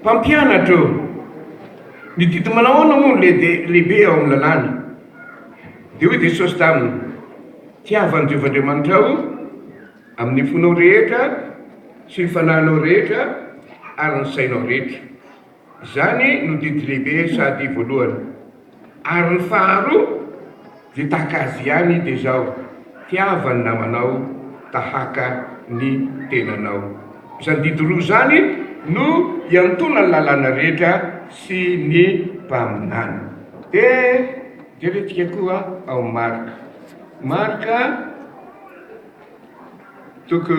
Mpampianatra ô! Ny didy manao ahoana moa no lehibe ao amin'ny lalàna? Dia hoy Jesosy taminy, Tiavo an'i Jehovah Andriamanitrao amin'ny fonao rehetra sy ny fanahinao rehetra ary ny sainao rehetra. Izany no didy lehibe sady voalohany. Ary ny faharoa dia tahaka azy ihany dia izao, tiava ny namanao tahaka ny tenanao. Izany didy roa izany no iantoana ny lalàna rehetra sy ny mpaminany. Dia jerentsika koa ao Marka. Marka toko.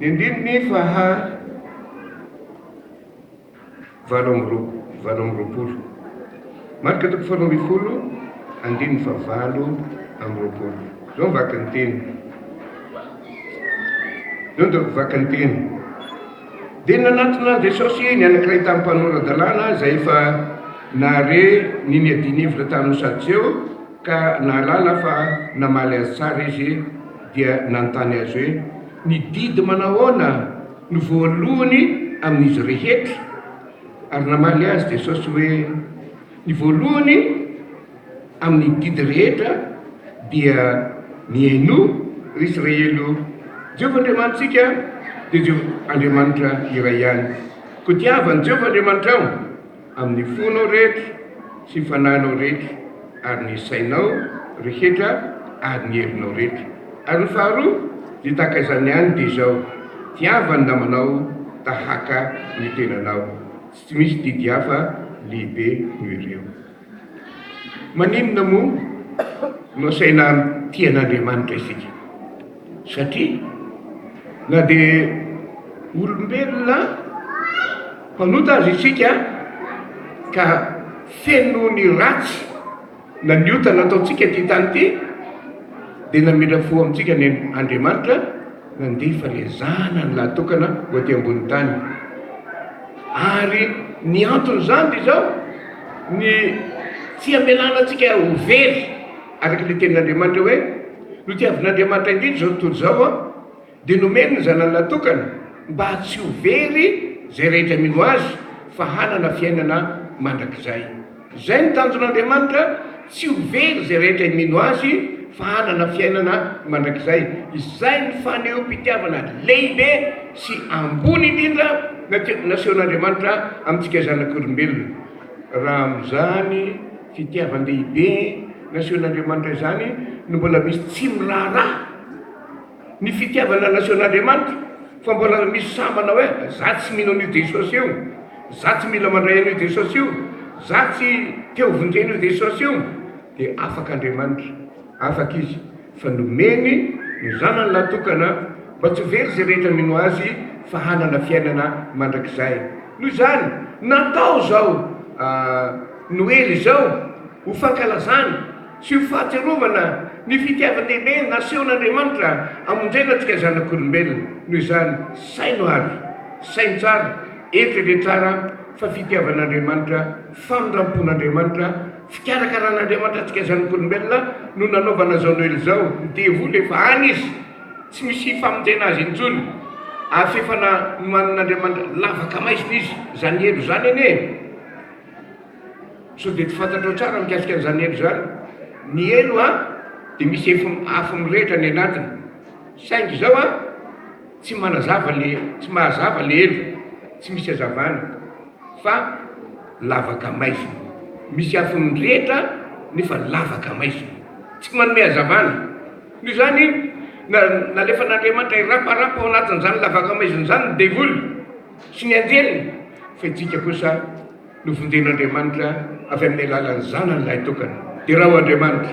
Indrindra ny faha valo amby valo amby roapolo. Marika toko faharoa ambin'ny folo, andininy faha valo amby roapolo. Izao ny vakin'ny teny. Izao ny vakin'ny teny. Dia nanatona an'i Jesosy ny anankiray tamin'ny mpanora-dalàna izay efa nahare ny niadian'ny hevitra tamin'ny Sadoseo ka nahalala fa namaly azy tsara izy dia nanontany azy hoe, Ny didy manahoana no voalohany amin'izy rehetra? Ary namaly azy Jesosy hoe, Ny voalohany amin'ny didy rehetra dia, Mihainoa, ry Israely ô! Jehovah Andriamanitsika dia Jehovah Andriamanitra iray ihany. Koa tiavo an'i Jehovah Andriamanitrao. Amin'ny fonao rehetra sy ny fanahinao rehetra, ary ny sainao rehetra ary ny herinao rehetra. Ary ny faharoa, dia tahaka izany ihany dia izao, Tiava ny namanao tahaka ny tenanao. Tsy misy didy hafa lehibe noho ireo. Maninona moa no asaina mitia an'Andriamanitra isika? satria na dia olombelona mpanota aza isika ka feno ny ratsy na ny ota nataontsika ity tany ity dia namindra fo amintsika ny Andriamanitra nandefa ilay zanany lahatokana ho aty ambony tany ary ny anton'izany dia izao ny tsy amelana antsika ho very Araka ilay tenin'Andriamanitra hoe, Notiavin'Andriamanitra indrindra izao tontolo izao, dia nomeny ny Zanany Latokany, mba tsy ho very izay rehetra mino Azy, fa hanana fiainana mandrakizay. Izay no tanjon'Andriamanitra, tsy ho very izay rehetra mino Azy, fa hanana fiainana mandrakizay. Izay no fanehoam-pitiavana lehibe sy ambony indrindra nasehon'Andriamanitra amintsika zanak'olombelona. Raha amin'izany. Fitiavan-dehibe nasehon'Andriamanitra izany no mbola misy tsy miraharaha ny fitiavana nasehon'Andriamanitra fa mbola misy sahy manao hoe za tsy mino an'io Jesosy io, za tsy mila mandray an'io Jesosy io, za tsy te hovonjena io Jesosy io. Dia afaka Andriamanitra, afaka Izy. fa nomeny ny zanany lahatokana mba tsy ho very izay rehetra mino azy fa hanana fiainana mandrakizay. Noho izany, natao izao Noely izao ho fankalazana sy ho fahatsiarovana ny fitiavan-dehibe nasehon'Andriamanitra hamonjena antsika zanak'olombelona. Noho izany, saino ary saino tsara, eritrereto tsara fa fitiavan'Andriamanitra, famindram-pon'Andriamanitra, Fikarakaran'Andriamanitra antsika zanak'olombelona no nanaovana izao Noely izao. Ny devoly efa any izy, tsy misy famonjena azy intsony. Avy efa nohanin'Andriamanitra lavaka maizina izy. Izany elo izany anie e! Sao dia tsy fantatrao tsara mikasika an'izany elo izany? Ny elo an, dia misy afo mirehitra ny anatiny. Saingy izao an, tsy manazava le, tsy mahazava le elo, tsy misy hazavana. fa lavaka maizina. Misy afony mirehitra nefa lavaka maizina. Tsy manome hazavana. Noho izany, nalefan'Andriamanitra hiraparapa ao anatin'izany lavaka maizina izany ny devoly sy ny anjeliny, fa isika kosa novonjen'Andriamanitra avy amin'ny alalan'ny Zanany lahitokana. Derao Andriamanitra!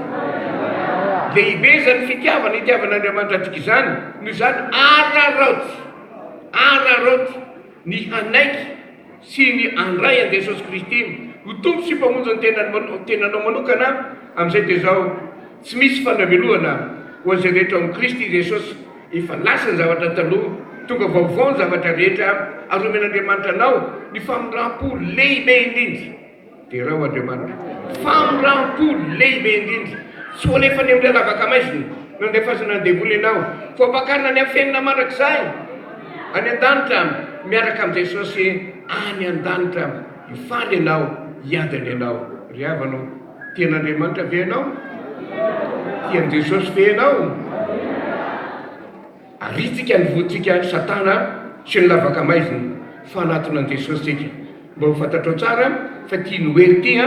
Lehibe izany fitiavana itiavan'Andriamanitra antsika izany, noho izany araraoty, araraoty. ny hanaiky sy ny handray an'i Jesosy Kristy ho Tompo sy Mpamonjy ny tenanao manokana, amin'izay dia izao, tsy misy fandramelohana ho an'izay rehetra ao amin'i Kristy Jesosy, efa lasa ny zavatra taloha, tonga vaovao ny zavatra rehetra, ary homen'Andriamanitra anao ny famindram-po lehibe indrindra. Derao Andriamanitra, famoram-po lehibe indrindra, tsy ho alefa any amin'ilay lavaka maizina nandefasana ny devoly ianao, fa hampakarina any hafenina mandrakizay any an-danitra miaraka amin'i Jesosy any an-danitra. Hifaly ianao, hiady any ianao. Ry havana ô, tia an'Andriamanitra ve ianao? Tia an'i Jesosy ve ianao? Aritsika ny voantsika satana sy ny lavaka maizina fa anatonan'i Jesosy tsika. Mba ho fantatrao tsara fa ity Noely ity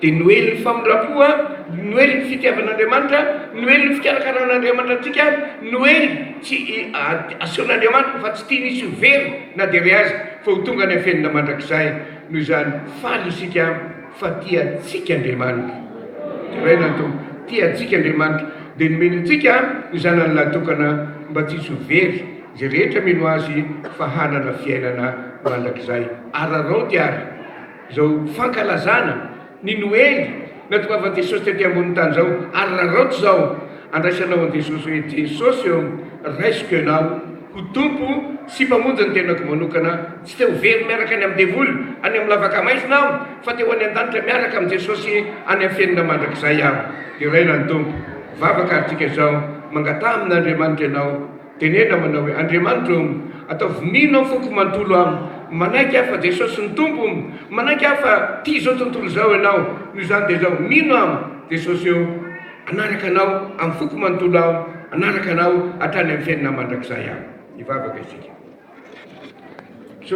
dia Noelin'ny famindram-po, Noelin'ny fitiavan'Andriamanitra, Noelin'ny fikarakaran'Andriamanitra antsika, Noely tsy asehon'Andriamanitra fa tsy tiany hisy ho very na dia iray aza fa ho tonga any am-piainana mandrakizay. Noho izany faly isika. Fa tia antsika Andriamanitra. Deraina ny Tompo. Tia antsika Andriamanitra, dia nomeny antsika ny Zanany lahitokana mba tsy hisy ho very izay rehetra mino Azy fa hanana fiainana mandrakizay. Araraoty àry izao fankalazana ny Noely natongavan'i Jesosy tety ambonin'ny tany izao. Araraoty izao andraisanao an'i Jesosy hoe, Jesosy ô, raisiko Ianao. Ho Tompo sy Mpamonjy ny tenako manokana aho. Tsy te ho very miaraka any amin'ny devoly any amin'ny lavaka maizina aho, fa te ho any an-danitra miaraka amin'i Jesosy any amin'ny fenina mandrakizay aho. Deraina ny Tompo. Vavaka ary tika izao, Mangataha amin'Andriamanitra ianao. Tenena manao hoe, Andriamanitro ô, ataovy mino aho foko manontolo aho. Manaiky aho fa Jesosy no Tompo. Manaiky aho fa tia izao tontolo izao ianao. Noho izany dia izao, mino aho, Jesosy ô. Hanaraka Anao amin'ny foko manontolo aho, hanaraka Anao hatrany amin'ny fiainana mandrakizay aho. Hivavaka isika.